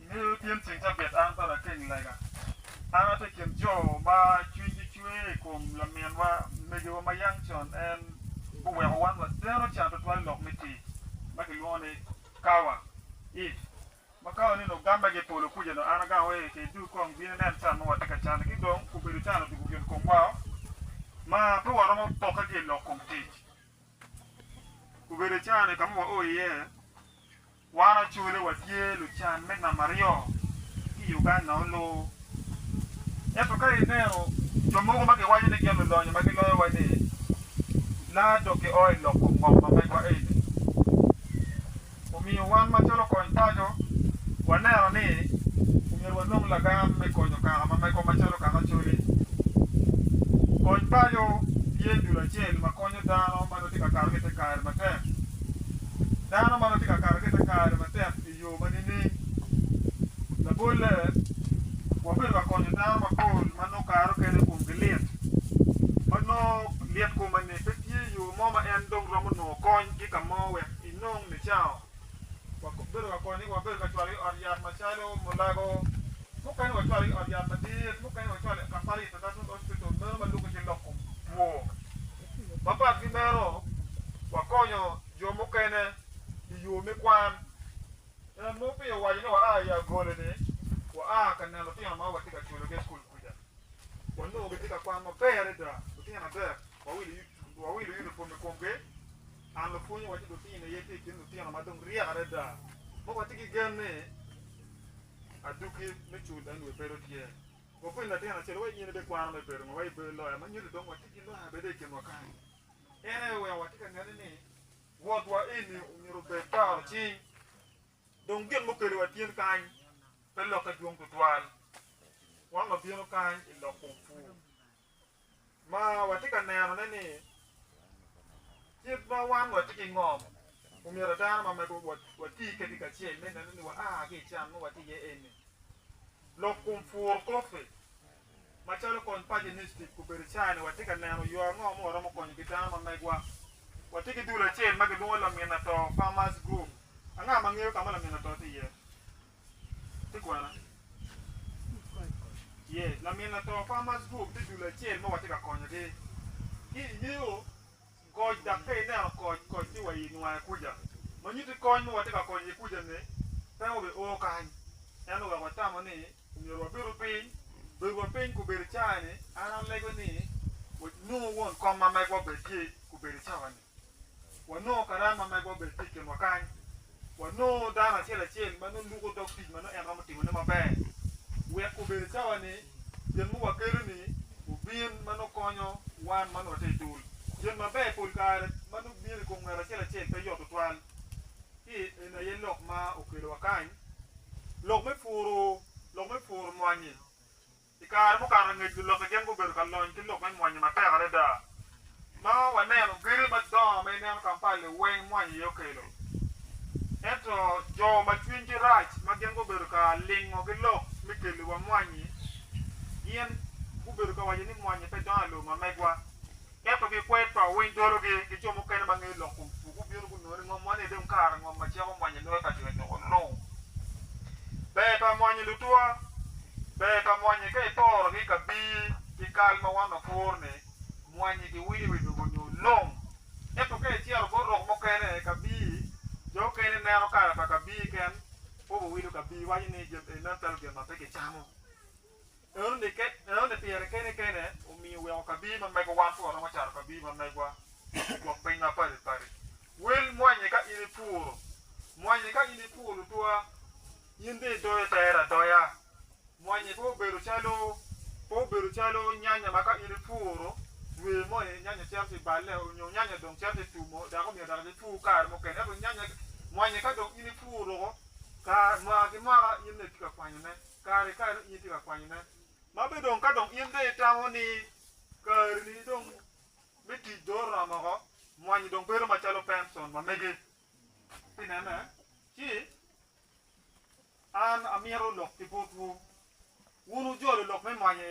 Ingeyo tyen ceng cabit an pa lakeng lega. An atye i kin jo ma cwinygi cwe i kom laminwa, megiwa ma yam con en oweko wan wateno can tutwal i lok me tic ma kilwongo ni kawa, if. Ma kawa-ni onongo gamme ki i polo kuca dong an agango wai ki idug kong bin inen can ma watye ka canni ki dong obedo can otugo gin komwao ma pe waromo pokke ki i lok kom tic. Obedo can-ni ka ma wao iye. Wan Acholi watye lucan me nam aryo ki i Uganda olur. Ento ka ineno jo mogo ma giwaco ni gin lulonyo ma giloyowa ni, laa dok gio i lok kom ngom ma megwa eni. Omiyo wan macalo kony paco waneno ni omyero wanong lagam me konyo kaka ma megwa macalo kaka Acholi. Kony paco tye dul acel ma konyo dano ma nongo tye ka kato ki i te kare matek. dano ma nongo tye ka kato ki i te kare matek i yo ma nining? Labolle, wabedo ka konyo dano mapol ma nongo kare mukene komgi lit, ma nongo lit kome ni pe tye yo mo ma en dong romo nongo konygi ka mo wek enong nicawa. Wabedo ka konyogi, wabedo ka cwalogi ot yat macalo Mulago, mukene wacwalogi ot yat madit, mukene wacwalogi i Kapalita National Hospital meno ma lubbe ki loko two. Mapat ki meno, wakonyo jo mukene i yo me kwan. En mogo pi owaco ni waa i agole-ni, waa ka neno lutino ma watye ka cwelogi i cukul kuca. Wanongo gitye ka kwan maber adada. Lutino adek wawilo unipom i komgi. An lapwony awacci lutino aye tye i kin lutino ma dong ryek adada ma watye ki gen ni adwogi me cul en dong bedo tye. Wapwony latin acel wa i nyene bene kwano me bedo ngewa i bedo loya ma nyuto dong watye ki loya bene i kinwa kany. En aye oweko watye ka nene ni wotwa eni omyero obed toro cing. Dong gin mukeli wa tyen kany pe lokke dwong tutwal. Wan wabino kany i lok kom pur. ma watye ka nenone ni kit ma wan watye ki ngom omyero dano mamego wati kedgi kacel me neno ni waa ki i can ma watye iye eni. Lok kom pur kop-pi macalo kony paco iniciative obedo caine watye ka neno yo ango ma waromo konyo ki dano mamegwa. Watye ki dul acel ma gilwongo lamin ato, Farmers Group. Anga ma ngeyo ka ma lamin ato tye iye? Ti kwena? Ye, lamin lato Farmers Group ti dul acel ma watye ka konyogi. Ki ingeyo koc dak ka ineno koc, koc ti wa i nwaye kuja. Ma nyuti kony ma watye ka konyo iye kuja-ni pe wabe oo kany. Ento wek watamo ni myero wabedo piny, bedowa piny kubedo icaa-ni, an alego ni nongo won kom ma megwa obed ki kubedo icawa-ni. wanongo karama ma gwa bed tye i kinwa kany, wanongo dano acel acel ma nongo luko dog tic ma nongo en romo timone maber, wek obed i cawa ni gin ma wakelo ni obin ma nongo konyo wan ma nongo watye i dul. Gin maber pol kare ma nongo bino i kom ngat acel acel pe yot tutwal, ci eni aye lok ma okelowa kany, lok me puro, lok me puro mwanyi. I kare mukato angec lulokke gin gubedo ka lony ki lok me mwanyi matek adada. Ma waneno gedo madongo ma ineno Kampala-li weng mwanyi aye okelo. Ento jo ma cwinygi rac ma gin gubedo ka lingo ki lok me keliwa mwanyi gin gubedo ka waco ni mwanyi pe dongo i lobo ma megwa. Ento gikwer to winy dologi, gico mukene ma ngeyo lok kom pu gubino gunongo ni ngom man aye dong kare ngom ma cik omwonyo loyo ka jo nyo olu. Ber pa mwonyo lutwa. Ber pa mwonye ka itorogi ka bii ki kal ma wan wapworo ni mwonye giwinyo iwi lobo nyo long. Ento ka icito bot rok mukene ka bii, jo okene neno kare pa ka bii ken po wawilo ka bii waco ni jami eni meno calo gin ma pe kicamo. Enoni pire kene kene omiyo oweko kabir ma megowan pud waromo cato kabir ma megwa i gwok piny ma padi padi. Wel mwanyi ka in i puro. Mwanyi ka in i puro lutwa, in dong i doyo tere adoya. Mwanyi pe obedo calo pe obedo calo nyanya ma ka in i puro dwe moni nyanya cito ci balle nyo nyanya dong cito ci tumo dok omyero dok i pur kare mukene. Ento nyanya mwanyi ka dong in i puro woko mwaka ki mwaka in aye itye ka kwanyone. kare ka in itye ka kwanyone, ma bene dong ka dong in dong itamo ni karini dong me tic dong oromo woko, mwanyi dong bedo macalo Benson ma megi. Pi nene, ci an amito lok ki botwu, wun wujolo lok me mwanyi.